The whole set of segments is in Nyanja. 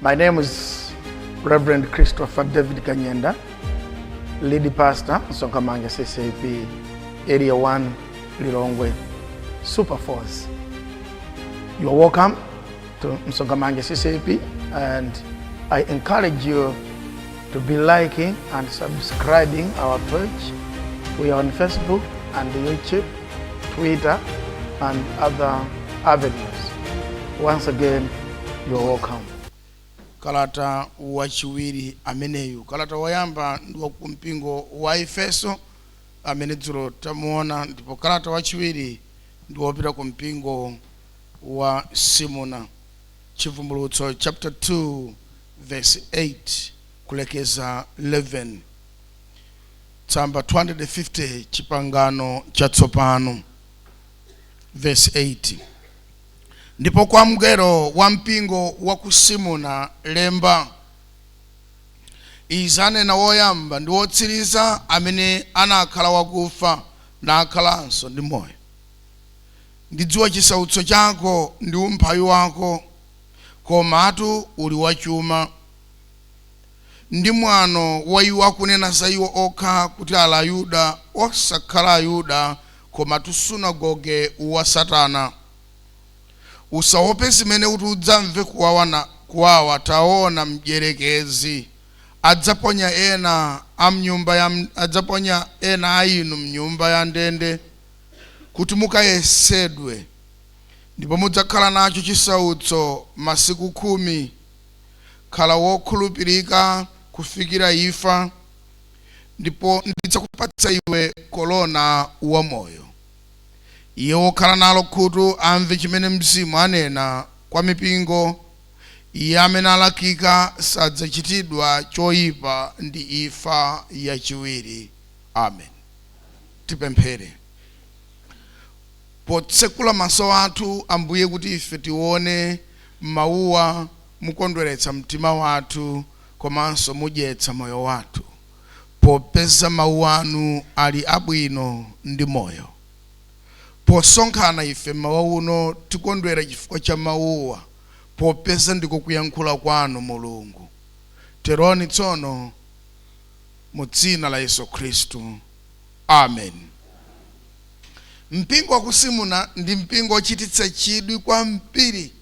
My name is Reverend Christopher David Kanyenda, lead pastor, Sokamanga CCP, Area 1, Lilongwe, Super Force. You are welcome to Msogamange CCP and I encourage you to be liking and subscribing our page. We are on Facebook and YouTube, Twitter, and other avenues. Once again, you're welcome. kalata wachiwiri ameneyu kalata woyamba ndi wa ku mpingo wa efeso amene dzulo tamuona ndipo kalata wachiwiri ndi wopita ku mpingo wa simuna chivumbulutso chapter 2 vesi 8 kulekeza 11, tsamba 250, Chipangano Chatsopano, vesi 8 Ndipo kwa mngelo wa mpingo wa ku Simuna lemba, Izi anena woyamba ndi wotsiriza, amene anakhala wakufa, nakhalanso ndi moyo, Ndidziwa chisautso chako ndi umphawi wako, komatu uli wachuma ndi mwano wa iwo akunena za iwo okha kuti ali Ayuda, osakhala Ayuda, komatu sunagoge wa Satana. Usaope zimene uti udzamve kuwawa, na, kuwawa, taona, mdyerekezi adzaponya ena a mnyumba ya, adzaponya ena a inu mnyumba ya ndende, kuti mukayesedwe, ndipo mudzakhala nacho chisautso masiku khumi. Khala wokhulupirika kufikira imfa, ndipo ndidzakupatsa iwe korona wa moyo. Iye wokhala nalo khutu amve chimene Mzimu anena kwa mipingo. Iye amene alakika sadzachitidwa choyipa ndi imfa yachiwiri. Amen. Tipemphere. Potsekula maso athu, Ambuye, kuti ife tiwone Mawuwa mukondweretsa mtima wathu komanso mudyetsa moyo wathu, popeza Mawu Anu ali abwino ndi Moyo. Posonkhana ife mmawa uno, tikondwera chifukwa cha Mawuwa, popeza ndiko kuyankhula Kwanu, Mulungu. Teroni tsono, mu Dzina la Yesu Khristu. Ameni. Mpingo wa ku Simuna ndi mpingo wochititsa chidwi kwambiri.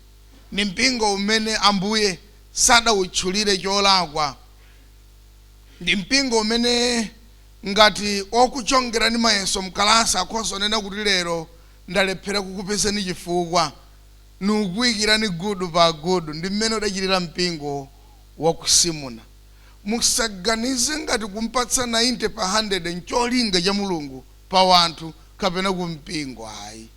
Ndi mpingo umene Ambuye sadautchulire cholakwa. Ndi mpingo umene ngati wokuchongerani mayeso mkalasi akhoza kunena kuti lero ndalephera kukupezani chifukwa, nukuikirani gudu pa gudu. Ndi mmene udachitira mpingo wa ku Simuna. Musaganize ngati kumpatsa 90 pa 100 ncholinga cha Mulungu. pa wanthu kapena ku mpingo ayi.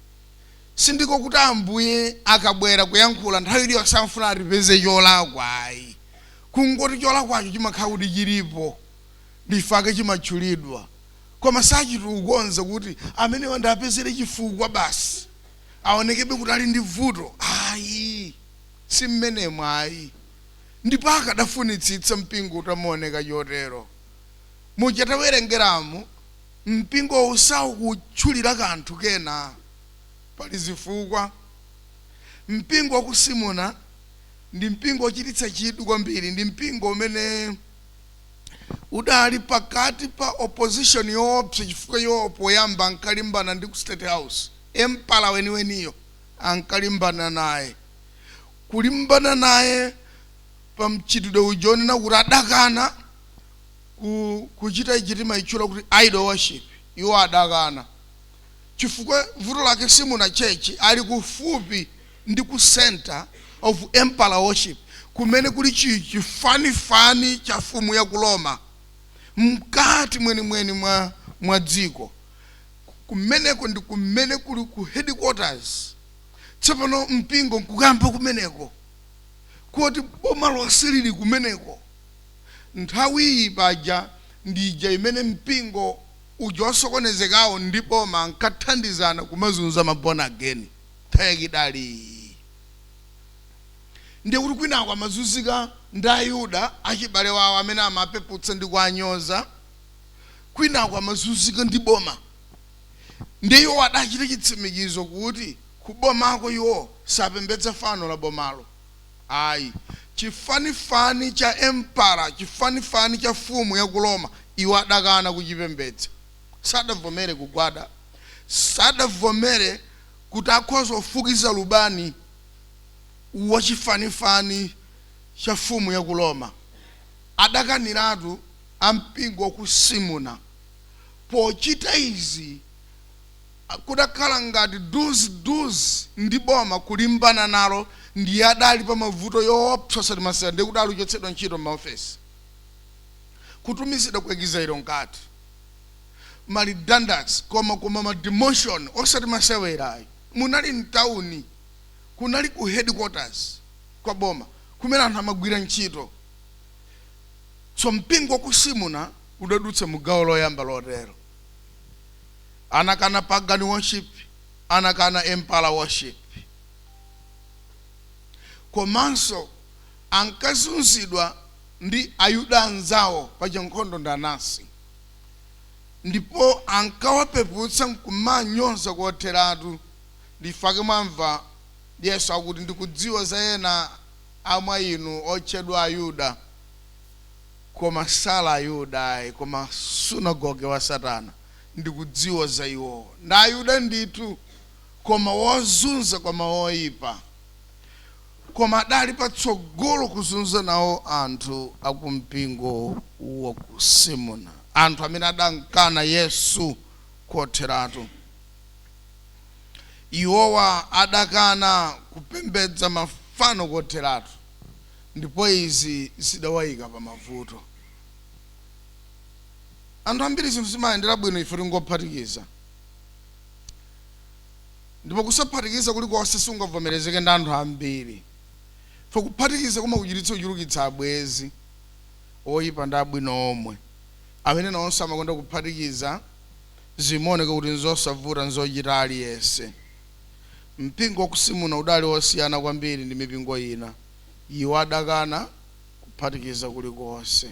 Sindiko kuti Ambuye akabwera kuyankhula nthawi iliyonse amafuna atipeze cholakwa ayi. Kungoti cholakwacho chimakhala kuti chilipo ndi chifukwa chake chimatchulidwa koma sachita kukonza kuti amenewa ndiapezere chifukwa basi aonekebe kuti ali ndi vuto ayi. Si mmenemo ayi. Ndipo akadafunitsitsa mpingo utamaoneka chotero. Muja tawerengeramu. Mpingowu saukutchulira kanthu kena. Pali zifukwa. Mpingo wa ku Simuna ndi mpingo wochititsa chidwi kwambiri. Ndi mpingo umene udali pakati pa opposition yoopsa chifukwa iwo poyamba ankalimbana ndi ku State House. Empala weniweniyo ankalimbana naye. Kulimbana naye pa mchitidwe uja wonena kuti adakana. kuchita ichi timaitchula kuti idol worship, iwo adakana. Chifukwa, vuto lake Simuna church, ali kufupi ndi ku center of emperor worship, kumene kuli chifanifani cha fumu ya ku Roma, mkati mwenimweni mwa dziko. Kumeneko ndi kumene kuli ku headquarters. Tsopano, mpingo nkukayamba kumeneko, koti boma lonse liri kumeneko. Nthawiyi paja ndi ija imene mpingo uja wosokonezekawo ndi boma ankathandizana kumazunza ma born again. Nthawi yake idali iyi. Ndiye kuti kwinako amazunzika ndi Ayuda, achibale wawo amene amapeputsa ndi kuwanyoza, kwinako amazunzika ndi boma. Ndiye iwowo adachita chitsimikizo kuti kubomako iwo sapembedza fano la bomalo. Ayi. Chifanifani cha Empala, chifanifani cha fumu ya ku Roma, iwo adakana kuchipembedza. Sadavomere kugwada. Sadavomere kuti akhoza kufukiza lubani wa chifanifani cha fumu ya ku Roma. Adakaniratu a mpingo wa ku Simuna. Pochita izi. Kudakhala ngati do's do's ndi boma kulimbana nalo ndiye adali pa mavuto yoopsa osati masewera ndiye kudali kuchotsedwa ntchito m'maofesi kutumizidwa ku exile mkati ma redundancy koma koma ma demotion osati masewera ayi munali mtauni kunali ku headquarters kwa boma kumene anthu amagwira ntchito so mpingo wa ku simuna udadutsa mu gawo loyamba lotero. anakana pagan worship, anakana emperor worship komanso ankazunzidwa ndi ayuda anzawo pachankhondo ndi anasi ndipo ankawapeputsa nkumanyoza kotheratu ndifake mwamva yesu akuti ndikudziwa za ena amwa inu otchedwa ayuda koma sali ayuda ayi koma sunagoge wa satana ndikudziwa za iwowa, ndi Ayuda ndithu, koma wozunza koma oipa, koma adali patsogolo kuzunza nawo anthu a ku mpingo wa ku Simuna, anthu amene adamkana Yesu kotheratu. Iwowa adakana kupembedza mafano kotheratu, ndipo izi zidawaika pa mavuto. anthu ambiri zinthu zimayendera bwino ife tingophatikiza ndipo kusaphatikiza kulikonse sungavomerezeke ndi anthu ambiri fo kuphatikiza kumakuchititsa kuchulukitsa abwezi oyipa ndi abwino omwe amene nawonso amakonda kuphatikiza zimaoneka kuti nzosavuta nzochita aliyense mpingo wakusimuna udali osiyana kwambiri ndi mipingo ina iwo adakana kuphatikiza kulikonse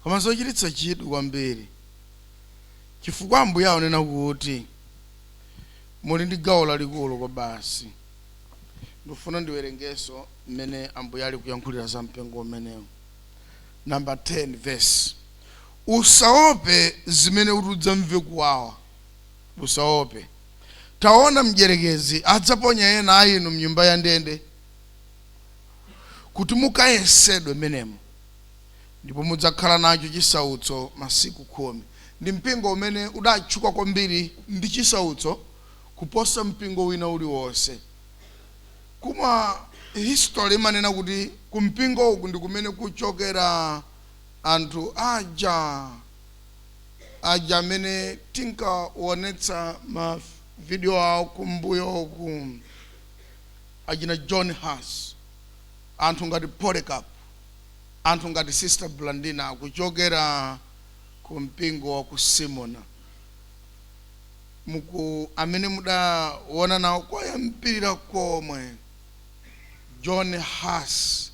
koma zochititsa chidwi kwambiri chifukwa ambuye akunena kuti muli ndi gawo lalikulu kwabasi ndifuna ndiwerengeso mmene ambuye ali kuyankhulira za mpingo umenewo namba 10 verse usaope zimene uti udzamve kuwawa usaope taona mdyerekezi adzaponya ena a inu mnyumba ya ndende kuti mukayesedwe mmenemo, ndipo mudzakhala nacho chisautso masiku khumi. Ndi mpingo umene udatchuka kwambiri ndi chisautso kuposa mpingo wina uliwonse. Koma history imanena kuti ku mpingo uku ndi kumene kuchokera anthu aja aja amene tinkaonetsa ma video awo kumbuyo uku. achina John Huss, anthu ngati Polycarp, anthu ngati Sister Blandina akuchokera ku mpingo wa ku Simuna, muku, amene mudaona nawo koyambirira komwe John Huss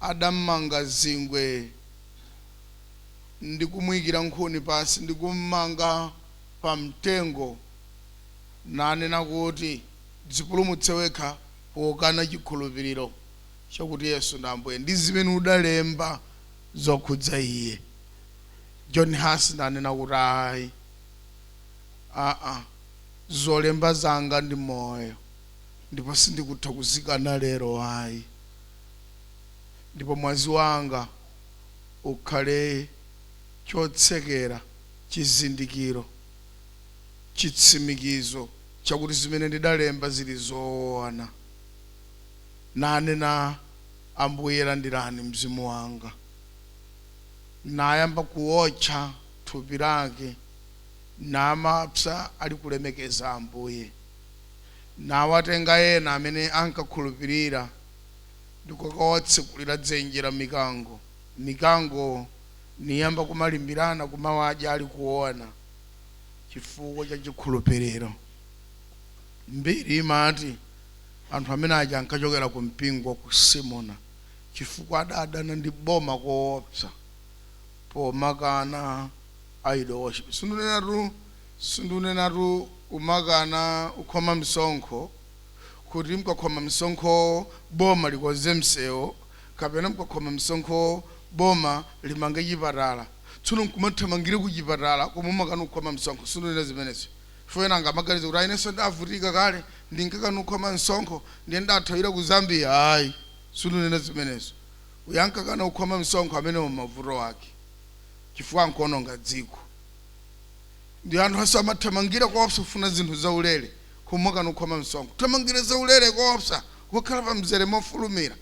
adammanga zingwe ndi kumuyikira nkhuni pansi ndi kummanga pa mtengo nanena kuti. Dzipulumutse wekha pokana chikhulupiriro chakuti Yesu ndi Ambuye ndi zimene udalemba zokhudza Iye. John Huss nanena kuti, Ayi, aa, zolemba zanga ndi moyo ndipo sindikutha kuzikana lero ayi. Ndipo mwazi wanga ukhale chotsekera, chizindikiro. chitsimikizo chakuti zimene ndidalemba zili zoona. Nanena, Ambuye landirani mzimu wanga. Nayamba kuwotcha thupi lake, namapsa alikulemekeza Ambuye. Nawatenga ena amene ankakhulupirira ndi kukawatsekulira dzenje la mikango, mikango niyamba kumalimbirana kumawadya alikuona. chifukwa cha chikhulupiriro. Mbiri imati anthu amene aja ankachokera ku mpingo wa ku Simuna chifukwa adadana ndi boma koopsa pomakana idol worship. Sindunenatu sindunenatu umakana ukhoma msonkho kuti mkakhoma msonkhowo boma likonze msewu kapena mukakhoma msonkhowo boma limange chipatala tsono nkumathamangira kuchipatala komwe umakana kukhoma msonkho sindinena zimenezo chifukwa ena angamaganize kuti ayi inenso ndavutika kale ndinkakana kukhoma msonkho ndiye ndathawira ku Zambia ayi sindinena zimenezo uyo ankakana kukhoma msonkho amenewo mavuto ake chifukwa nkuononga dziko ndiye anthu aso amathamangira koopsa kufuna zinthu zaulere koma umakana kukhoma msonkho kuthamangira zaulere koopsa kukhala pa mzere mofulumira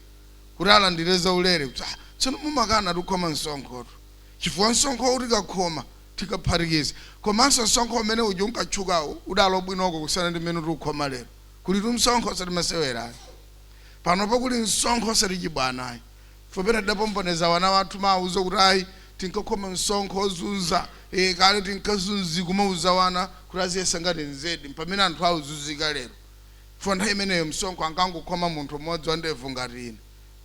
kuti alandire zaulere kuti ah, tsono mumakana ukhoma msonkhotu chifukwa msonkho uu tikakhoma tikaphatikiza komanso msonkho umene uja unkatchukawo udali bwinoko kusiyana ndi mmene tikukhoma lero kulitu msonkho osati masewera ayi panopo kuli msonkho osati chibwana ayi chifukwa pena tidapombonezera wana wathu kumawauza kuti ayi tinkakhoma msonkho ozunza e, kale tinkazunzika kumauza wana kuti aziyesa ngati nzedi pamene anthu auzunzika lero chifukwa nthawi imeneyo msonkho ankangokhoma munthu mmodzi wandevu ngati ine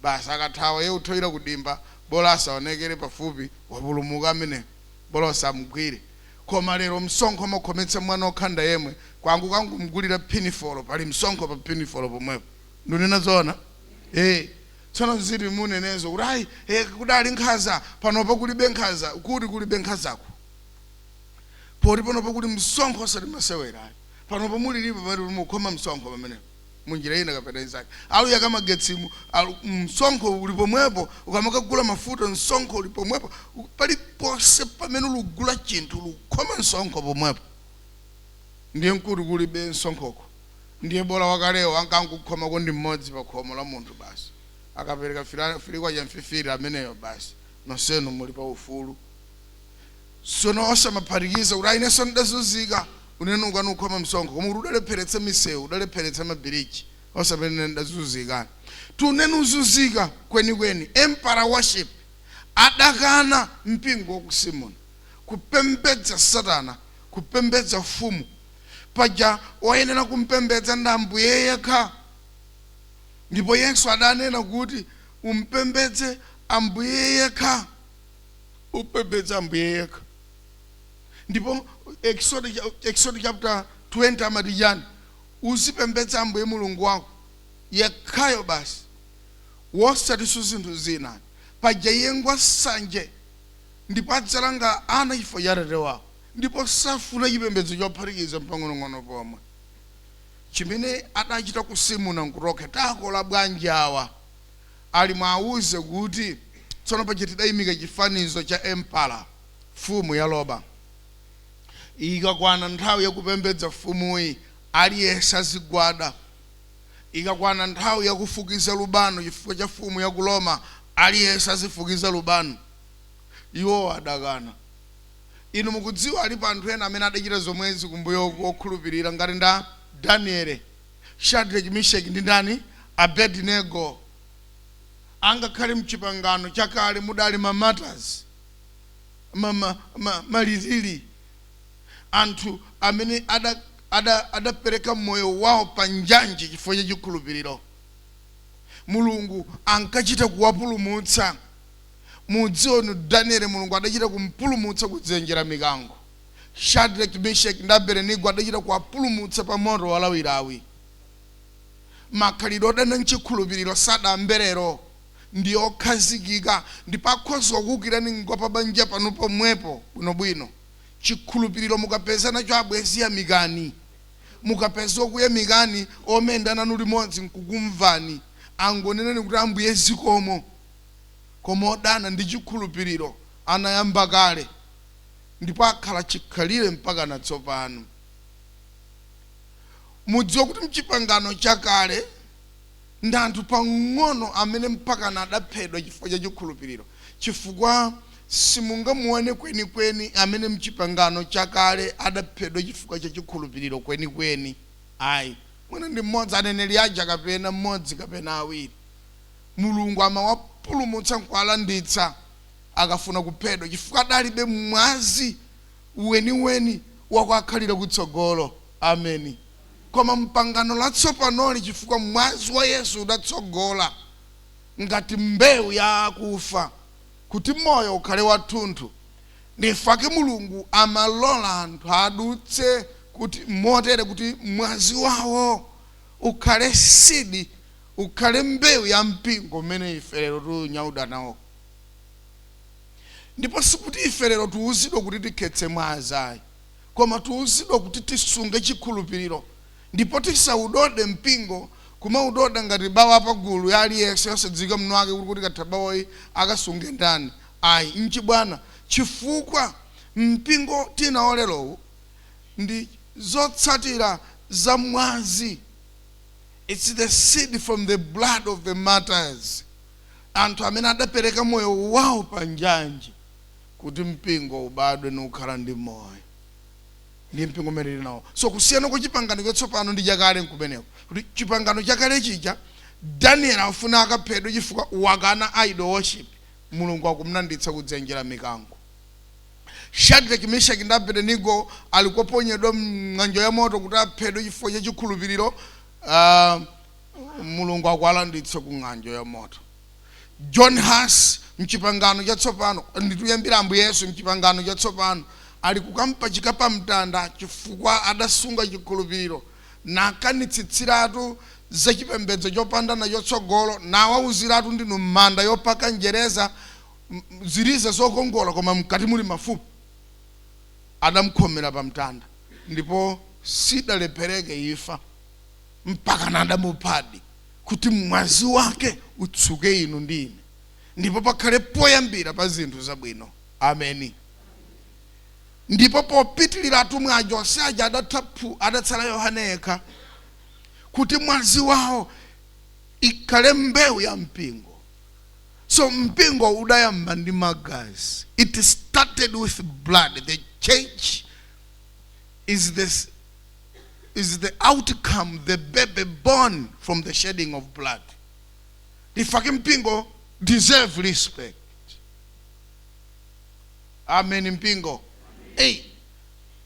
basi akathawa iye kuthawira kudimba bola asaonekere pafupi wapulumuka ameneyo bola osamgwira koma lero msonkho umakhometsa mwana okhanda yemwe kungokangomgulira phinifolo pali msonkho pa phinifolo pomwepo ndunena zoona ee tsono nziti munenezo kuti ayi e, kudali nkhaza panopa kulibe nkhaza kuti kulibe nkhazako poti panopa kuli msonkho osati masewera ayi panopo mulilipo pamene kuti mukhoma msonkho pamene munjira ina kapena inzake alowa kumagetsiku alu- msonkho uli pomwepo ukamakagula mafuta msonkho uli pomwepo U- paliponse pamene ukugula chinthu ukukhoma msonkho pomwepo ndiye mkuti kulibe msonkhoko ndiye bola wakalewo ankangokhomako ndi mmodzi pa khomo la munthu basi akapereka fila- filikwa cha mfifiri ameneyo basi nonsenu muli pa ufulu sono osamaphatikiza kuti ayineso ndidazunzika unene ukani ukhoma msonkho koma kuti udalepheretsa misewu udalepheretsa mabiriji osapanene ndidazunzika tunene uzunzika kwenikweni emperor worship adakana mpingo wa ku simuna kupembedza satana kupembedza mfumu paja woyenera kumpembedza ndi ambuye yekha ndipo yesu adanena kuti umpembedze ambuye yekha upembedza ambuye yekha ndipo ekisodo cha- ekisodo chapter 20 amati chani uzipembedza ambuye mulungu wako yekhayo basi osatinso zinthu zina paja iye ngwa sanje ndipo adzalanga ana chifukwa cha atate wawo ndipo safuna chipembedzo chophatikiza mpang'onong'ono pomwe chimene adachita ku simuna nkurokhetakola bwanji awa ali mwauze kuti, Tsono paja tidaimika chifanizo cha Emperor, mfumu ya Roma. Ikakwana nthawi yakupembedza mfumuyi, aliyense azigwada. Ikakwana nthawi yakufukiza lubano chifukwa cha mfumu ya ku Roma, aliyense azifukiza lubano. Iwo adakana. Inu mukudziwa alipo anthu ena amene adachita zomwezi kumbuyoku okhulupirira, ngati a Daniele. Shadreki, Misheki ndi ndani? Abedinego. Angakhale mchipangano chakale mudali ma martyrs, ma, ma, ma, malirili, anthu amene ada, ada, adapereka moyo wao pa njanji chifukwa cha chikhulupiliro, Mulungu ankachita kuwapulumutsa. Mudziwa Daniele Mulungu adachita kumpulumutsa ku dzenje la mikango. Shadreki, Misheki ndi Abedinego adachita kuwapulumutsa pa moto walawilawi. Makhalidwe odana nchikhulupiriro sadayambe lero. Ndi okhazikika ndipo akhoza kukuukirani ngwa pa banja panu pomwepo bwinobwino. Chikhulupiriro mukapeza nacho abwenzi yamikani. Mukapeza okuyamikani, omayenda nanu limodzi nkukumvani, angoneneni kuti Ambuye zikomo. Koma odana ndi chikhulupiriro anayamba kale. ndipo akhala chikhalire mpakana tsopano. Mudziwa kuti mchipangano chakale ndi anthu pang'ono amene mpakana adaphedwa chifukwa cha chikhulupiriro, chifukwa simungamuone kwenikweni amene mchipangano chakale adaphedwa chifukwa cha chikhulupiriro kwenikweni ayi. Mwina ndi mmodzi aneneri aja kapena mmodzi kapena awiri. Mulungu amawapulumutsa nkuwalanditsa akafuna kuphedwa chifukwa adalibe mwazi weniweni wakuakhalira kutsogolo. Ameni. Koma mpangano latsopanoli chifukwa mwazi wa Yesu udatsogola ngati mbewu ya akufa kuti moyo ukhale wathunthu nchifake Mulungu amalola anthu adutse kuti motere kuti mwazi wawo ukhale seed ukhale mbewu ya mpingo umene ife lero tiunyauda nawo. ndipo sikuti ife lero tiuzidwa kuti tikhetse mwazi ayi koma tiuzidwa kuti tisunge chikhulupiriro ndipo tisaudode mpingo kumaudoda ngati bawa pagulu ya aliyense yosadziwika mwini wake kuti ikatha bawayi akasunge ndani ayi nchibwana chifukwa mpingo tinawo lerowu ndi zotsatira za mwazi it's the seed from the blood of the martyrs anthu amene adapereka moyo wawo pa njanji kuti mpingo ubadwe nukhala ndi moyo ndiye mpingo umene tili nawo so kusiyana kwa chipangano chatsopano ndi chakale nkumeneko kuti chipangano chakale chija daniel amfuna akaphedwe chifukwa wakana idol worship mulungu akumlanditsa kutsenjera mikango shadraki meshaki ndi abedenigo ali koponyedwa mng'anjo ya moto kuti aphedwe chifukwa cha chikhulupiriro mulungu akuwalanditsa ku ng'anjo ya moto john huss mchipangano chatsopano ndi kuyambira ambuye yesu mchipangano chatsopano ali kukampachika pa mtanda chifukwa adasunga chikhulupiriro nakanitsitsiratu za chipembedzo chopanda nacho tsogolo nawauziratu ndinu manda yopaka njereza m- m- ziliza zokongola koma mkati muli mafupa adamkhomera pa mtanda ndipo sidalephereke ifa mpaka nadamuphadi kuti mwazi wake utsuke inu ndi ine ndipo pakhale poyambira pa zinthu zabwino ameni ndipo popitirira atumwi aja onse aja adatha phu adatsala yohane yekha kuti mwazi wawo ikhale mbewu ya mpingo so mpingo udayamba ndi magazi it started with blood the church is the s- is the outcome, the baby born from the shedding of blood. The fact mpingo deserve respect. Amen mpingo. Hey,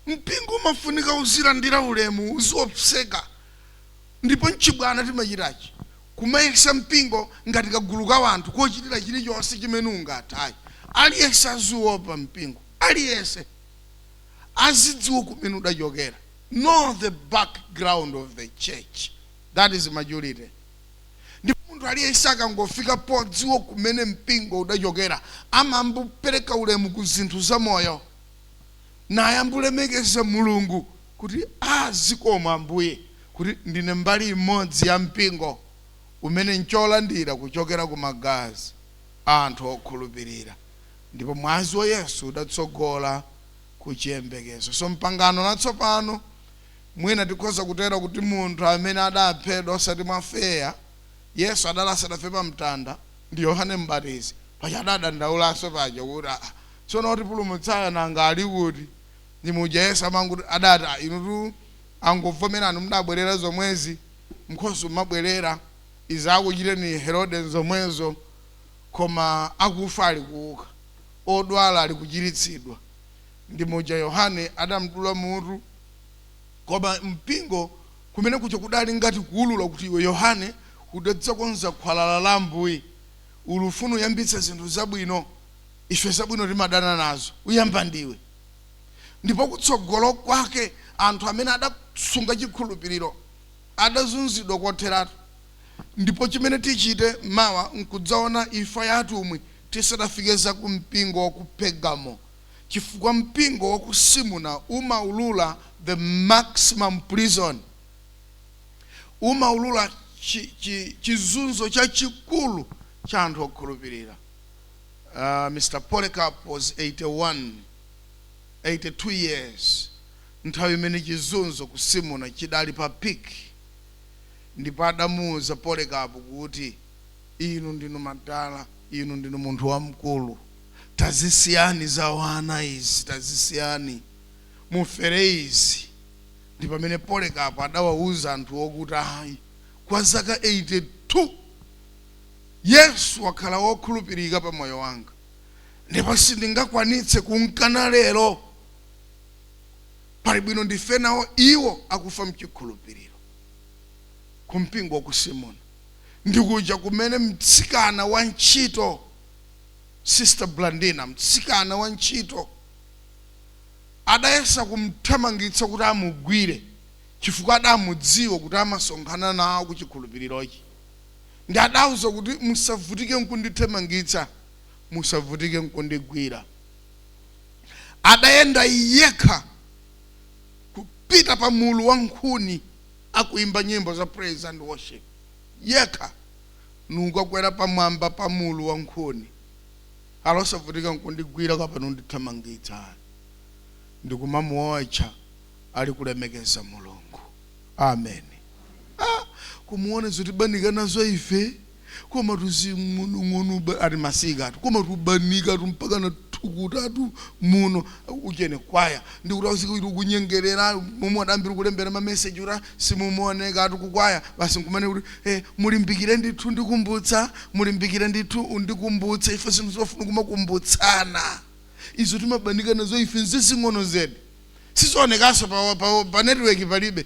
mpingo umafunika uzilandira ulemu uziopseka ndipo mchibwana timachitachi kumayesa mpingo ngati kagulu ka wanthu kochitira chilichonse chimene ungathe ayi aliyense aziwopa mpingo aliyense azidziwa kumene udachokera know the background of the church that is maturity ndipo munthu aliyense akangofika podziwa kumene mpingo udachokera amambupereka ulemu ku zinthu za moyo naye ambulemekeza mulungu kuti zikomo ambuye kuti ndine mbali imodzi ya mpingo umene ncholandira kuchokera ku magazi a anthu okhulupirira Ndipo Mwazi wa Yesu udatsogola ku chiyembekezo. So m'pangano latsopano, mwina tikhoza kutero kuti munthu amene adaphedwa osati mwa fair, Yesu adali asadafere pa mtanda, ndi Yohane Mbatizi, paja adadandaulanso paja kuti aah tsono otipulumutsayo nanga ali kuti? Ndi muja Yesu amangoti adati aah inutu angovomerani mudabwerera zomwezi, mkhosi umabwerera, izi zakuchiteni Herode nzomwezo. koma akufa ali kuuka, odwala ali kuchiritsidwa, ndi muja Yohane adamdula mutu, koma mpingo kumene kuja kudali ngati kuulula kuti iwe Yohane udadzakonza khwalala la Ambuye, uli ufuna uyambitse zinthu zabwino, ife zabwino timadana nazo, uyamba ndiwe. Ndipo kutsogolo kwake anthu amene adasunga chikhulupiriro adazunzidwa kotheratu. Ndipo chimene tichite mawa nkudzaona imfa ya atumwi tisadafike za ku mpingo wa ku Pergamo, chifukwa mpingo wa ku Simuna umaulula the maximum prison, umaulula chi, chi, chizunzo chachikulu cha anthu okhulupirira. Uh, Mr. Polycarp was 81, 82 years nthawi imene chizunzo ku Simuna chidali pa peak. ndipo adamuuza Polekapu kuti, Inu ndinu madala, inu ndinu munthu wamkulu. Tazisiyani za wana izi, tazisiyani. Mufere izi. Ndi pamene Polekapu adawauza anthuwo kuti, Ayi, kwa zaka 82 Yesu wakhala wokhulupirika pa moyo wanga, ndipo sindingakwanitse kumkana lero. pali bwino ndife nawo iwo akufa mchikhulupiriro ku mpingo wa ku simoni ndikuja kumene mtsikana wa ntchito sister blandina mtsikana wa ntchito adayesa kumthamangitsa kuti amugwire chifukwa adamudziwa kuti amasonkhana nawo ku chikhulupirirochi ndi adauza kuti musavutike nkundithamangitsa musavutike nkundigwira adayenda yekha kupita pa mulu wa nkhuni akuimba nyimbo za praise and worship yekha nkukakwera pamwamba pa mulu wa nkhuni ali osavutika nkundigwira kapena ndithamangitsa ndikumamuotcha ali kulemekeza mulungu amen ah, kumaona zotibanika nazo ife Komatu zing'onong'ono ba- ati masikatu koma tubanikatu mpaka na thukutatu muno ujeni kwaya ndikuti ausike kuti ukunyengerera momwe adayambira kulembera mameseji kuti simumaonekatu kukwaya basi nkumanena kuti eh, mulimbikire ndithu ndikumbutsa mulimbikire ndithu undikumbutse ife zinthu zofuna kumakumbutsana izo timabanika nazo ife nzazing'ono zedi sizionekaso pa, pa, pa network palibe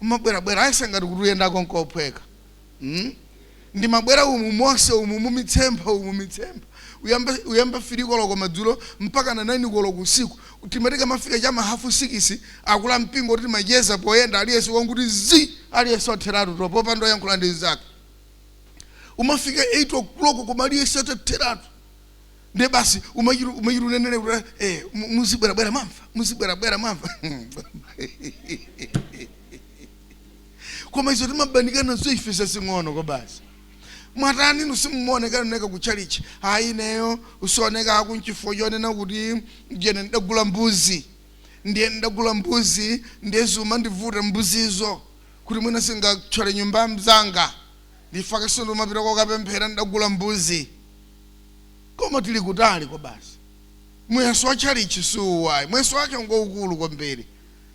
Umabwerabwera ayesa ngati kuti uyendako nkophweka mm? Ndimabwera umu monse umu mumitsempha umu mitsempha uyamba, uyamba filikoloko madzulo mpaka na nainikoloko usiku timati ikamafika chama hafu sikisi akulu ampingo kuti timacheza poyenda aliyense wangoti zii aliyense watheratu popanda oyankhula ndi nzake umafika 8 o'clock koma aliyense wotheratu nde basi umachita umachita unena kuti eh mu- muzibwerabwera mamva muzibwerabwera mamva koma izo timabanika nazo ife zazing'ono kwabasi mwatani inu simumaonekaoneka ku chalichi ayi ineyo kusaonekaku nchifukwa chonena kuti ujeni ndidagula mbuzi ndiye ndidagula mbuzi ndiye zumandivuta mbuzizo kuti mwina zingatchole nyumba mzanga nchifukwa chake sindimapita kokapemphera ndidagula mbuzi Koma tili kutali kwabasi. Muyeso wa tchalitchi si uwu ayi. Muyeso wake ngwaukulu kwambiri.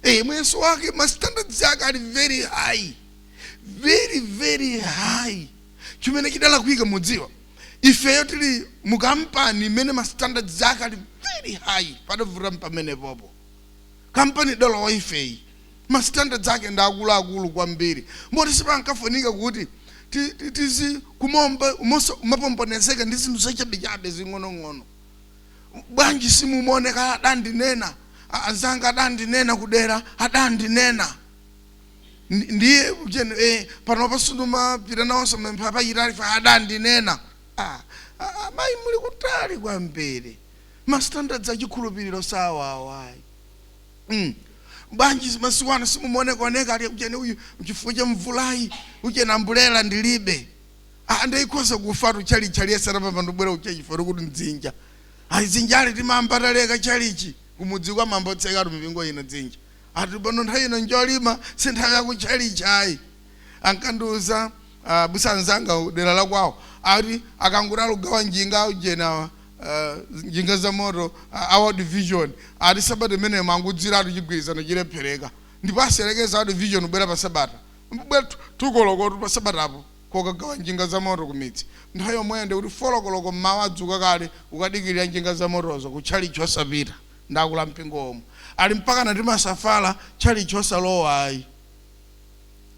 Eee muyeso wake ma standards ake ali very high. Very very high. Chimene chidalakwika mudziwa. Ifeyo tili mu kampani imene ma standards ake ali very high. Padavuta mpamenepopo. Kampani idalowa ifeyi ma standards ake ndi akuluakulu kwambiri moti sipankafunika kuti tizikumapombonezeka ndi zinthu zachabechabe zing'onong'ono. Bwanji simumaoneka adandinena, anzanga adandinena kudera, adandinena. Ndiye panopa sindimapita nawonso mapemphero apachitatu ife adandinena. Amayi muli kutali kwambiri. ma standards a chikhulupiriro sawawo ayi mm. bwanji masiku ano simumaonekoneka ati ujeni uyu chifukwa cha mvulayi ujeni ambulera ndilibe Ah, ndaikhoza kufatu chalichi aliyese anapamba ndibwera uche chifukwa kuti mdzinja ayi dzinjali timaba taleka chalichi kumudzi kumaba kotseka ati mipingo ino dzinja ati pano nthawi ino njolima si nthawi yaku chalichi ayi ankandiuza uh, busanzanga dera la kwawo ati akangoti akugawa njinga ujeni awa uh, njinga za moto uh, a world vision ati sabata imeneyo mangudziratu chigwirizano chilephereka ndipo akayerekeza world vision kubwera pa sabata mbwera tukolokotu pa sabatapo kokagawa njinga za moto kumidzi nthawi yomweyo ndi kuti four o'clock mmawa adzuka kale kukadikirira njinga za motozo ku tchalichi osapita ndakula mpingo omwe ali mpaka timasafala tchalichi osalowa ayi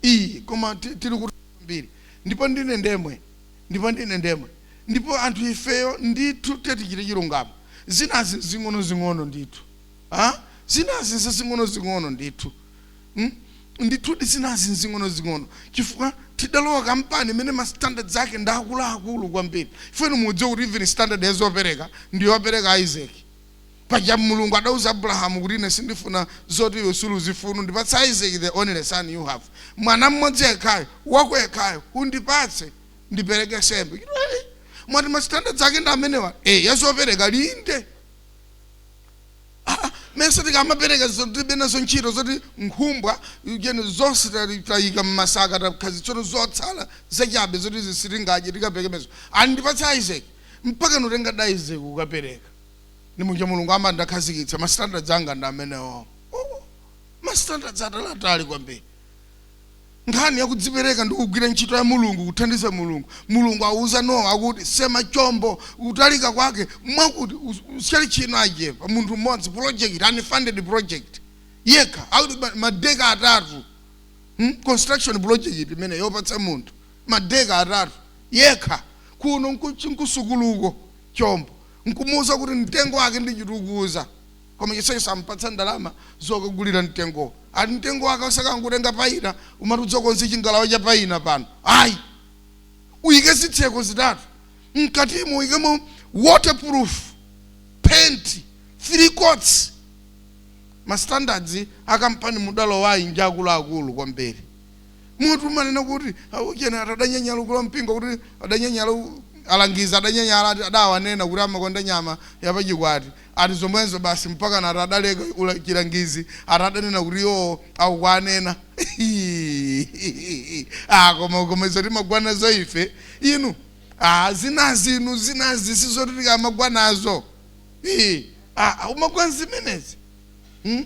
iyi koma ti- tili kuti kwambiri ndipo ndinenedwe Ndipo ndinenedwe. Ndipo anthu ifeyo, ndithu, tiyeni tichite chilungamo, zinazi nzing'onozing'ono ndithu. Ha? Zinazi nzazing'onozing'ono ndithu. Hmm? Ndithudi zinazi nzing'onozing'ono chifukwa tidalowa kampani imene ma standards ake ndi akuluakulu kwambiri. Ife inu mukudziwa kuti even standard ya zopereka ndi yopereka Isaac. Paja Mulungu adauza Abrahamu kuti ine sindifuna zoti iwe suli uzifuna ndipatse Isaac the only son you have mwana mmodzi yekhayo wako yekhayo undipatse ndipereke sembe chito hey, mwati ma standards ake ndi amenewa eh yazopereka ndiye Ah, mmesa tikamapereka zotibe nazo ntchito zoti nkhumba ujeni zonse tali- tayika mmasaka tathazi tsono zotsala zachabe zoti zisitingaje tikaperekezo andipatse isaac mpaka kutengadi isaac kukapereka ndi muja mulungu amati ndakhazikitsa ma standards anga ndi amenewo Oh, ma standards atalatali kwambiri nkhani yakudzipereka ndi kugwira ntchito ya mulungu kuthandiza mulungu mulungu awuza nowa akuti sema chombo kutalika kwake mwakuti usichani chinachake kwa munthu mmodzi project unfunded project yekha akuti ma- madeka atatu hmm? construction project imeneyo kupatsa munthu madeka atatu yekha kuno nku- nkusukuluko chombo nkumuuza kuti mtengo wake ndi citrus koma chonsecho sampatsa ndalama zokagulira mtengowo ati mtengo wake usakangotenga paina umati udzakonze chingalawa cha paina pano ayi uyike zitseko zitatu mkatimo uyikemo waterproof paint three coats ma standards akampani mudalowayi nja akuluakulu kwambiri munthu umanena kuti "Aucheni atere adanyanyala ukulu wa mpingo kuti adanyanyala u- alangizi adanyanyala ati adawanena kuti amakonda nyama yapachikwati ati zomwezo basi mpaka nati adaleka ula- chilangizi atadanena kuti iwo akuwanena ah, koma koma izo timagwa nazo ife inu ah, zinazi inu zinazi sizoti tikamagwa nazo Ii, ah, ah, umagwa nzimenezi hmm?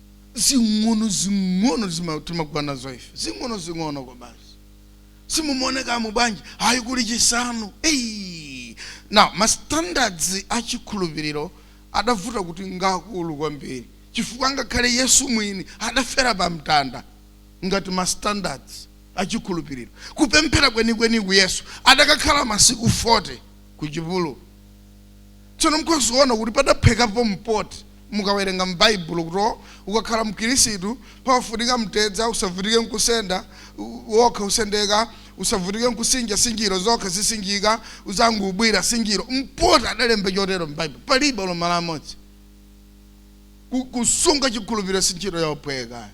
zing'ono zing'ono zima- timagwa nazo ife zing'ono zing'ono kwabasi simumaonekamo bwanji ayi kuli chisanu Ei! na mastandards a chikhulupiriro adavuta kuti ngakulu kwambiri chifukwa ngakhale yesu mwini adafera pa mtanda ngati mastandards a chikhulupiriro kupemphera kwenikweni ku yesu adakakhala masiku 40 ku chipululu tsono mukuziona kuti padaphwekapo mpoti Mukawerenga m'Baibulo kuti ukakhala Mkhirisitu pamafunika mtedza, usavutike nkusenda, wokha usendeka, usavutike nkusinja, sinjiro zokha zisinjika, udzangoubwira, sinjiro, mpoti adalemba chotero m'Baibulo. Palibe olo malo amodzi. Ku, kusunga chikhulupiriro si ntchito yophweka.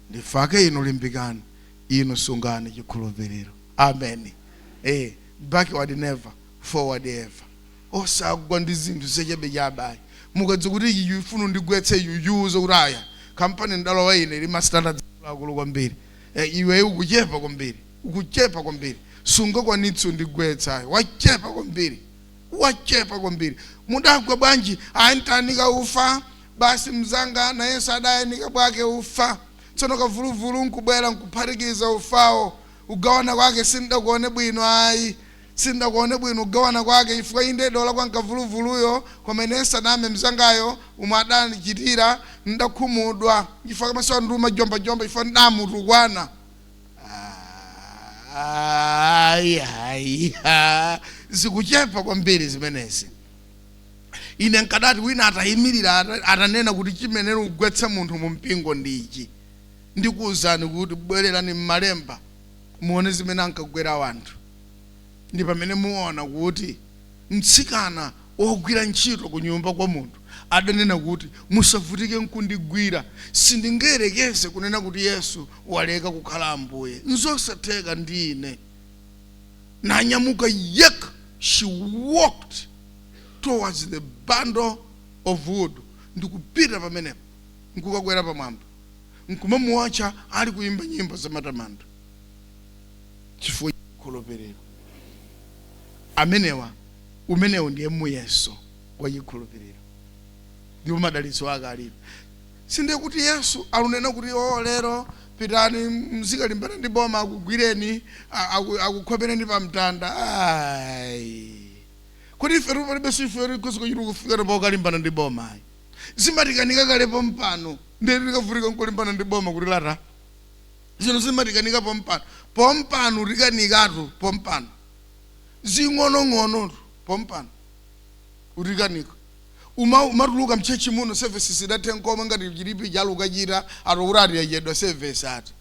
Ndifake inu limbikani, inu sungani chikhulupiriro. Ameni. Eh, backward never, forward ever. osagwa ndi zinthu zachabechabe ayi mukadziwa kuti iyi ifuna indigwetse muyiuze kuti aya kampani ndalowa ine ili ma standards akuluakulu kwambiri eh, iwe ukuchepa kwambiri ukuchepa kwambiri sungakwanitse undigwetsa ayi wachepa kwambiri wachepa kwambiri mudagwa bwanji ayi ntayanika ufa basi mzanga nayenso adayanika bwake ufa tsono kavuluvulu nkubwera nkuphatikiza ufawo ugawana kwake sindakuone bwino ayi Sindidakuone bwino kugawana kwake chifukwa inde ndidalakwa m'kavuluvuluyo koma ine ndisaname mnzangayo umo adandichitira ndidakhumudwa chifukwa masana ano ndimajomba-jomba chifukwa ndidamutukwana. Ayi, ayi, ha, zikuchepa kwambiri zimenezi. Ine nkadati wina atayimirira ata- atanena kuti chimene chikugwetsa munthu mu mpingo ndi ichi. Ndikuwuzani kuti bwererani m'malemba muone zimene ankagwera wanthu. ndi pamene muona kuti mtsikana wogwira ntchito kunyumba kwa munthu adanena kuti, Musavutike nkundigwira. Sindingayerekeze kunena kuti Yesu waleka kukhala Ambuye. Nzosatheka ndi ine. Nanyamuka yekha, she walked towards the bundle of wood, ndikupita pamenepo, nkukakwera pamwamba, nkumamuwotcha ali kuyimba nyimbo zamatamando. chifukwa cha chikhulupiriro. Amenewa, umenewu ndiye muyeso wa chikhulupiriro, ndipo madalitso ake alipo. Sindiye kuti Yesu alunena kuti, o, lero pitani muzikalimbana ndi boma, akugwireni, a- aku- akukhomereni pa mtanda. Ayi. Kodi ifetu palibenso chimene ife tikhoza kuchita kufikira pokalimbana ndi boma? Ayi. Zimatikanika kalepo pompano, ndiye ndi tikavutika nkulimbana ndi boma kuti lata. Zinthu zimatikanika pompano. Pompano utikanikatu pompano. Zing'onong'onotu pompano utikanika. Uma umatuluka mchurch muno service isadathe nkomwe ngati chilipo chalo ukachita ati kuti ati yachedwa service ati.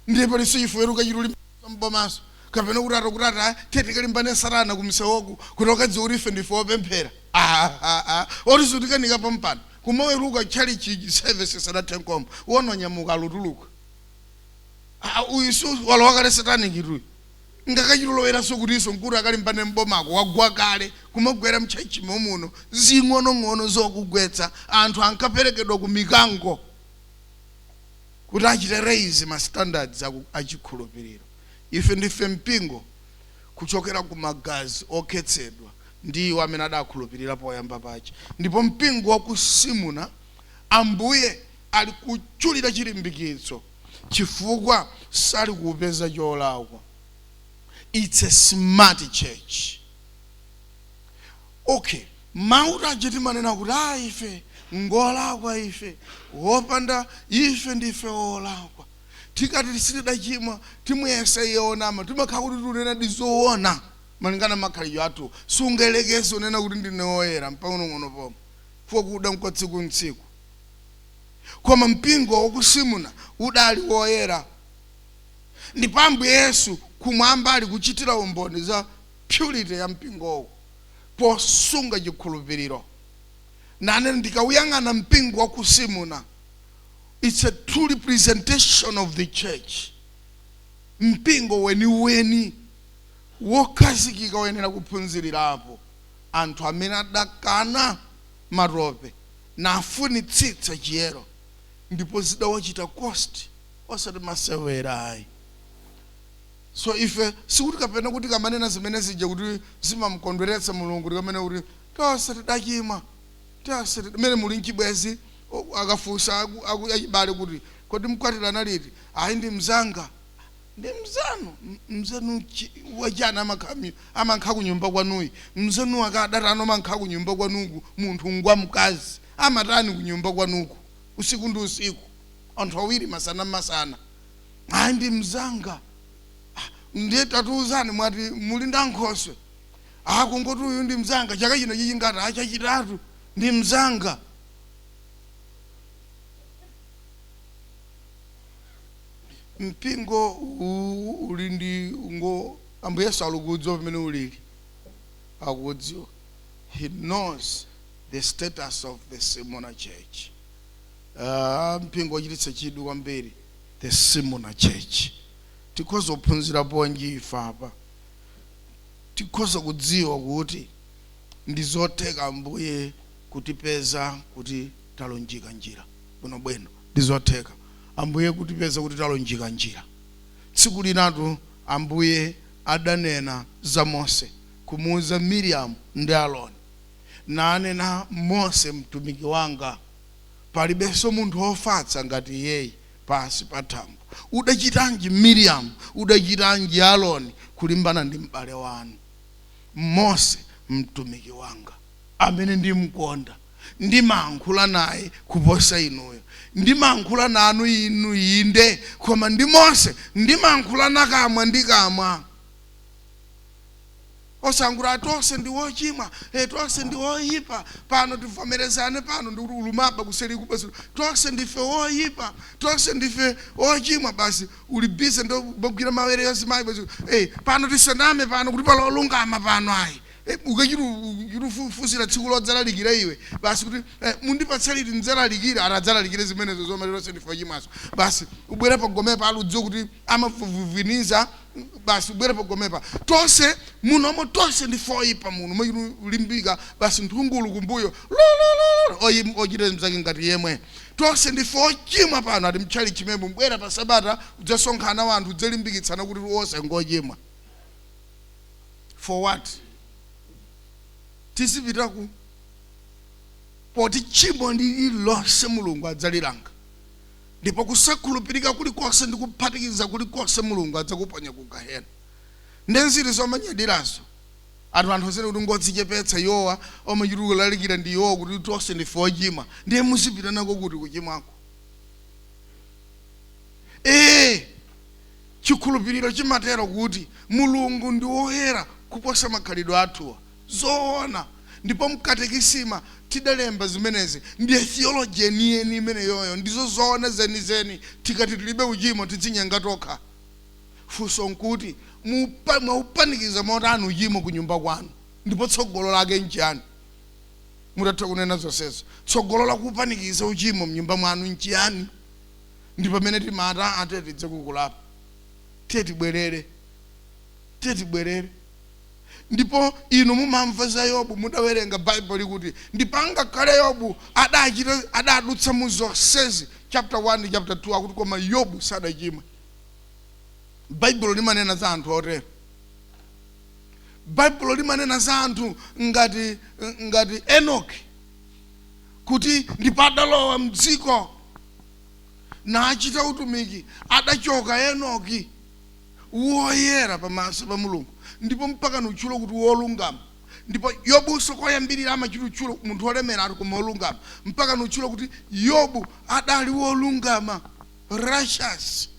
Ndiye palinso chifukwa choti ukachita ulimbikitsa m'bomaso. Kapena kuti ati kuti ati ah, tiye tikalimbane satana kumsewoku kuti ukadziwe kuti ife ndife opemphera. Ah, ah, ah. Oti sutikanika pompano. kumaweluka tchalitchi service isanathe nkomwe uwona wanyamuka alutuluka Ah, uyu su walowa kale satanic tu uyu ngakachite loweranso kutinso nkuti akalimbane mbomako wagwa kale kumagwera mtchalitchi momuno zing'onong'ono zokugwetsa anthu ankaperekedwa ku mikango kuti achite raise ma standards aku- achikhulupiriro ife ndife mpingo kuchokera ku magazi okhetsedwa ndi iwo amene adakhulupilira poyamba paja. Ndipo mpingo wa ku Simuna Ambuye ali kuchulira chilimbikitso chifukwa sali kuupeza cholakwa. Its a smart church. Ok, mau taja timanena kuti ah ife ngolakwa ife, wochimwa ife ndife wolakwa. Tikati sitidachimwa, timuyesa iye wonama, timakhala kuti tikunenadi zowona malingana ndi makhalidwe athuwo. Sungayerekeze kunena kuti ndine woyera mpang'onong'ono pomwe, chifukwa kuda nkwa tsiku ndi tsiku. Koma mpingo wa ku Simuna udali woyera, ndipo Ambuye Yesu kumwamba ali kuchitira umboni za purity ya mpingowu posunga chikhulupiriro, nanena, Ndikauyang'ana mpingo wa ku Simuna, It's a true representation of the church. Mpingo weniweni wokhazikika woyenera kuphunzirirapo anthu amene adakana matope nafunitsitsa chiyero ndipo zidawachita cost osati masewera ayi so ife sikuti kapena tikamanena zimene zija kuti zimamkondweretsa mulungu tikamanena kuti tonse tidachimwa Tiyasire mmene muli m'chibwenzi o, akafunsa aku, aku, achibale kuti kodi mkwatirana liti? Ayi ndi mnzanga. Ndi mnzanu? M- Mnzanu chi, wachani amakhala mnyu- amankha kunyumba kwanuyi? Mnzanu wakadatani omankha kunyumba kwanuku munthu ngwa mkazi? Amatani kunyumba kwanuku usiku ndi usiku? Anthu awiri masana masana. Ayi ndi mnzanga. Ah, ndiye tatiuzani mwati muli ndi ankhoswe? ah kungoti uyu ndi mzanga chaka chino chachingati ah chachitatu ndi mzanga mpingo uwu uli ndi ngo ambuye yesu alikudziwa pamene ulili akudziwa he knows the status of the Smyrna church Ah, mpingo wochititsa chidwi kwambiri the Smyrna church tikhoza kuphunzira ponji ife apa tikhoza kudziwa kuti ndi zotheka Ambuye kutipeza kuti talunjika njira. Bwino bwino. Ndi zotheka Ambuye kutipeza kuti talunjika njira. Tsiku linatu Ambuye adanena za Mose, kumuuza Miriamu ndi Aroni, nanena, Mose mtumiki wanga, palibenso munthu wofatsa ngati iyeyi. pansi pa thambo. Udachitanji, Miriyamu, udachitanji, Aroni, kulimbana ndi m'bale wanu Mose, mtumiki wanga, amene ndimkonda, ndimankhula naye kuposa inuyo? Ndimankhula nanu inu, inde, koma ndi Mose ndimankhulana kamwa ndi kamwa. osalungama tonse ndi wochimwa e, tonse ndi woyipa pano tivomerezane pano ndi kuti ulumaba kuseli kubasu tonse ndife woyipa tonse ndife wochimwa basi uli busy ndo bogwira mawere yonse mayi basi e, pano tisaname pano kuti pali olungama pano ayi e, ukachitufufuzira tsiku lodzalalikira iwe basi kuti e, mundipatse liti ndidzalalikire atadzalalikire zimenezo zomwe tonse ndife wochimwazo basi ubwere pagomepa uli kudziwa kuti amavuviniza basi ubwere pagomepa tonse muno omwe tonse ndife oyipa muno mulimbika basi nthungulu kumbuyo lolololo oyi- ochita mzake ngati yemwe tonse ndife ochimwa pano ati mtchali chimemwe mbwera pa sabata kudzasonkhana wanthu kudzalimbikitsana kuti wonse ngochimwa for what tizipita ku poti tchimo lililonse mulungu adzalilanga ndipo kusakhulupirika kulikonse ndi kuphatikiza kulikonse mulungu adzakuponya ku gehena nde nzeru zomanyadirazo ati anthu azinena kuti ngodzichepetsa iwowa omachita kulalikira ndi iwowa kuti tonse ndife ochimwa ndiye muzipita nako kuti kuchimwako ee chikhulupiriro chimatero kuti mulungu ndi woyera kuposa makhalidwe athuwa Zoona. Ndipo m'katekisima tidalemba zimenezi. Ndiye Theology yeniyeni imeneyoyo. Ndizo zoona zenizeni. Tikati tilibe uchimo tidzinyenga tokha. Funso nkuti, mupa, mwaupanikiza motani uchimo kunyumba kwanu? Ndipo tsogolo lake nchiyani? Mutatha kunena zonsezo, tsogolo la kuupanikiza uchimo m'nyumba mwanu nchiyani? Ndi pamene timati, aa, tiye tidze ku kulapa. Tiye tibwerere. Tiye tibwerere. Ndipo inu mumamva za Yobu, mudawerenga Baibulo kuti, ndipo angakhale Yobu adachita, adadutsa mu zonsezi, chapter 1, chapter 2, akuti koma Yobu sadachimwa. Baibulo limanena za anthu otero. Baibulo limanena za anthu ngati ngati Enoki kuti ndipo adalowa mdziko nachita utumiki, adachoka Enoki. woyera pamaso pa mulungu ndipo mpaka nutchula kuti wolungama ndipo yobuso koyambirira amachitutchula munthu wolemeratu koma wolungama mpaka nutchula kuti yobu adali wolungama righteous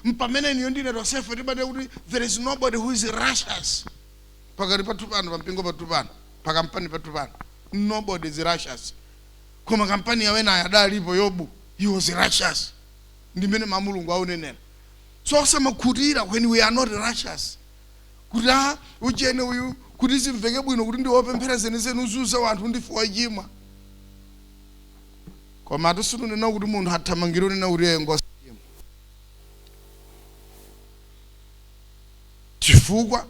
mpamene inuyo ndi ine tonsefe timanena kuti there is nobody who is righteous pakati pathu pano pampingo pathu pano pakampani pathu pano nobody is righteous koma kampani ya enawo adalipo yobu he was righteous ndi mmene ma mulungu aunenera so osamakhutira when we are not righteous kuti a ujene uyu kuti zimveke bwino kuti ndiwopemphera zenizeni uziuza wanthu ndife wochimwa koma atu sindunena kuti munthu athamangire unena kuti iye ngosi chifukwa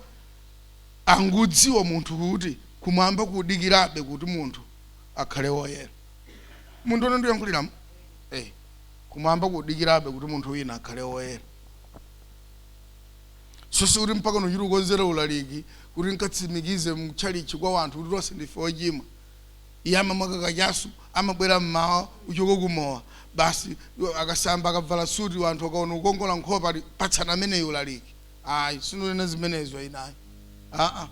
angudziwa munthu kuti kumwamba kudikirabe kuti munthu akhale woyera munthu ono ndiyankhuliramo eh. Kumwamba kudikirabe kuti munthu wina akhale woyera. So sikuti mpaka nuchita ukonzera ulaliki kuti nkatsimikize mtchalitchi kwa wanthu kuti tonse ndife ochimwa. Iye amamwa kakachasu, amabwera mmawa kuchoka ku mowa, basi akasamba akabvala suti wanthu akaona kukongola nkhope ati patsani ameneyu ulaliki. ayi sindinena zimenezo ine ayi aa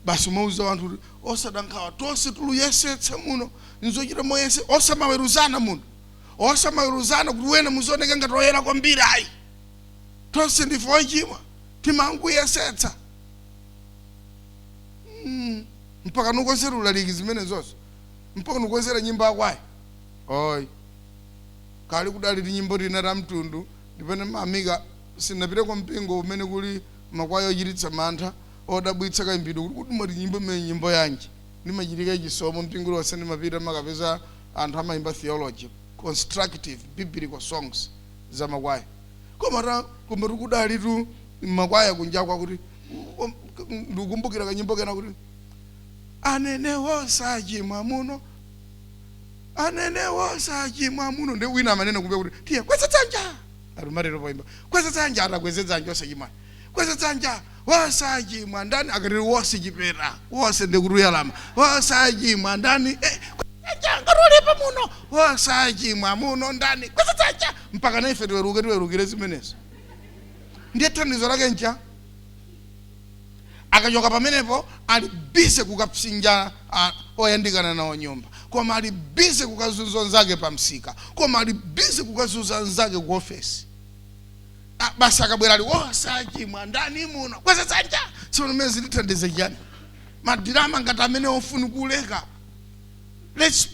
basi umauza wanthu kuti osada nkhawa tonse tuluyesetsa muno nzochita moyesa osamaweruzana muno osamaweruzana kuti wena muzioneka ngati oyera kwambiri ayi tonse ndife ochimwa timangoyesetsa Mm, mpaka nukonzera ulaliki zimenezozo mpaka nukonzera nyimbo akwayi oyi kale kudali tinyimbo tina ta mtundu ndipene mamika Sindinapite kwa mpingo umene kuli makwaya ochititsa mantha, odabwitsa kayimbidwe, kuti kodi mwati nyimbo imeneyi nyimbo yanji? Ndimachitika chisomo, mpingo uliwonse ndimapita ndimakapeza anthu amayimba theology, constructive biblical songs za makwaya. Komatu kudalitu makwaya kunjaku akuti ndikukumbukira kanyimbo kena kuti Anene osachimwa muno, anene osachimwa muno, nde wina amanena kumbuyo kuti tiye kweza dzanja! alumatero poimba kweza dzanja atakweze dzanja osachimwa kweza dzanja osachimwa ndani akatiri wose chipera wose ndikutuyalama osachimwa ndani eh, kweza dzanja ngati ulipo muno osachimwa muno ndani kweza dzanja mpaka naife tiweruke tiwerukire zimenezo ndiye thandizo lake ncha akachoka pamenepo ali bize kukapsinja ah, oyandikana nawo nyumba koma ali bize kukazunza nzake pa msika koma ali bize kukazunza nzake ku ofesi Ah, basi akabwera ali osachimwa ndani muno kweza dzanja tsono zimenezi zitithandize chiyani madirama ngati amenewo ofunika kuleka let's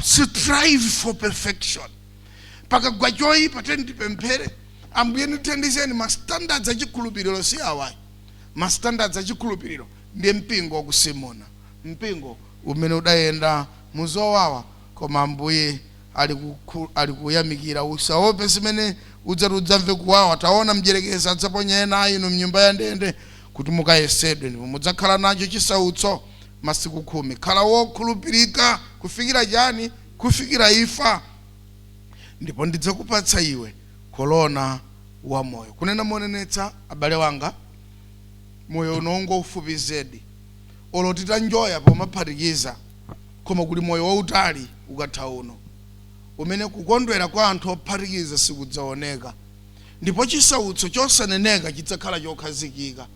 strive for perfection pakagwa choyipa tiyeni tipemphere ambuye ndithandizeni ma standards a chikhulupiriro si awayi ma standards a chikhulupiriro ndi mpingo wa ku Smurna mpingo umene udayenda muzowawa koma ambuye ali kukhu- ali kuyamikira usaope zimene udzati udzamve kuwawa taona mdyerekezi adzaponya ena a inu mnyumba ya ndende kuti mukayesedwe ndipo mudzakhala nacho chisautso masiku khumi khala wokhulupirika kufikira chani kufikira imfa, ndipo ndidzakupatsa iwe korona wa moyo. Kunena monenetsa, abale wanga, moyo uno ngoufupi zedi, olo titanjoya pomaphatikiza, koma kuli moyo wautali ukatha uno, umene kukondwera kwa anthu ophatikiza sikudzaoneka, ndipo chisautso chosaneneka chidzakhala chokhazikika.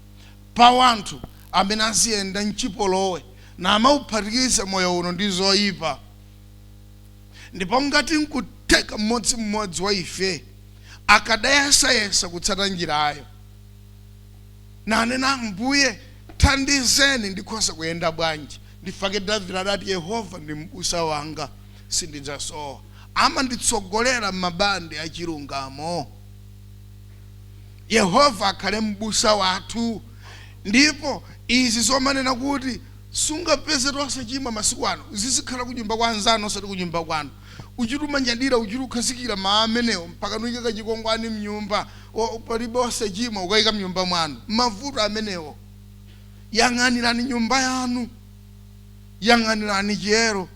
pa wanthu amene aziyenda mchipolowe namauphatikiza moyo uno ndi zoipa. Ndipo ngati nkutheka mmodzi mmodzi wa ife akadayesayesa kutsata njirayo, nanena, Ambuye, thandizeni, ndikhoza kuyenda bwanji? Ndifake Davide adati, Yehova ndi mbusa wanga, sindidzasowa. Amanditsogolera m'mabande a chilungamo. Yehova akhale M'busa wathu. Ndipo izi zomanena kuti sungapezetu osachimwa masiku ano zizikhala kunyumba kwa anzanu osati kunyumba kwanu. Uchita kumanyadira, uchita kukhazikira mawu amenewo mpaka nuike kachikwangwani mnyumba, o, palibe osachimwa, ukaika mnyumba mwanu. Mavuto amenewo. Yang'anirani nyumba yanu. Yang'anirani chiyero.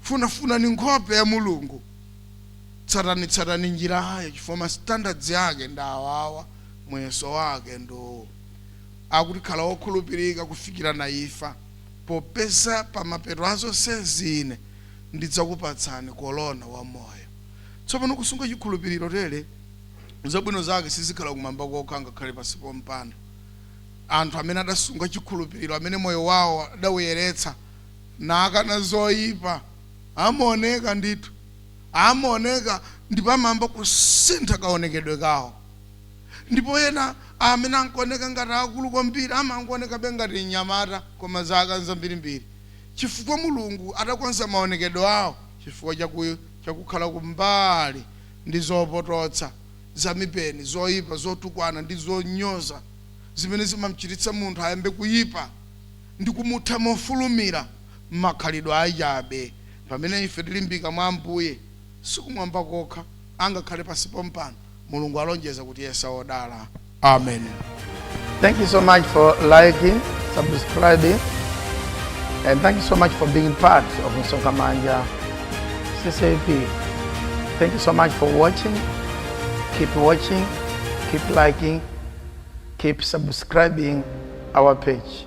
Funafunani nkhope ya Mulungu. tsatanitsatani njirayo chifukwa standards yake ndi awawa, muyeso wake ndi uwu, akuti khala wokhulupirika kufikira nayo imfa, popeza pa mapeto a zonsezi ine ndidzakupatsani korona wa moyo. Tsopano, kusunga chikhulupiriro tere, zabwino zake sizikhala kumwamba kokha angakhale pansi pompano. Anthu amene adasunga chikhulupiriro, amene moyo wawo adauyeretsa nakana zoipa, amaoneka ndithu. amaoneka ndipo amayamba kusintha kaonekedwe kawo ndipo ena amene akuoneka ngati akulu kwambiri amangoonekabe ngati mnyamata koma zaka nzambirimbiri chifukwa mulungu adakonza maonekedwe awo chifukwa chakukhala kumbali ndi zopototsa zamipeni zoyipa zotukwana ndi zonyoza zimene zimamchititsa munthu ayambe kuyipa ndi kumutha mofulumira makhalidwe achabe Pamene ife tilimbika mwa Ambuye, sikumwamba kokha, angakhale pansi pompano, Mulungu alonjeza kutiyesa odala. Ameni. Thank you so much for liking, subscribing, and thank you so much for being part of Msonkhamanja CCAP. Thank you so much for watching. Keep watching, keep liking, keep subscribing our page.